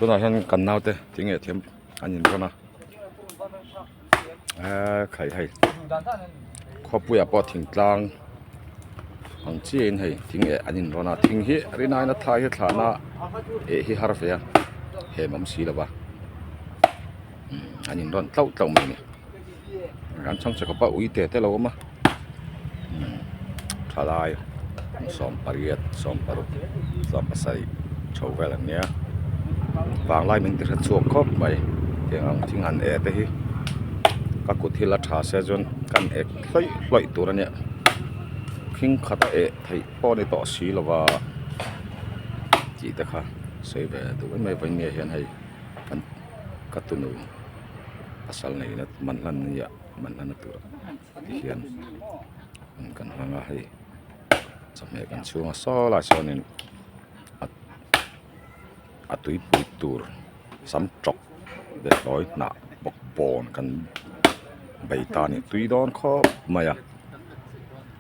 tunah hian kan naute thing nge thiam an in run a eee khai hei khawipuiah pawh thingtlang ang chiahin hei thing nge an in run a thing hi rinaina thlai hi thlahna êh hi har ve a hêmawm si lova an in run tlauh tlauh mai a ni. an chhang che khawp a ui te te lo awm a thalai sawm pariat sawm paruk sawm pasarih tho vel an nia vanglai min ti hre chhuak khawp mai heng ang thing han e te hi ka kut hi la tha sia chuan kan ek hlaih hlaih tur a nia khing khat a eh theih pawh a ni tawh si lo va tih te kha sawi ve duai mai vawiin nge hian hei an-- ka tunu pasal neihna man hlan nia man hlan a tur a ti hian an kan hmang a hei chawhmeh kan chhung a saw lai sawnin a a tuipui tur sam tawk betlawih hnah bawk bawn kan bei ta a ni tui dawn khawp mai a.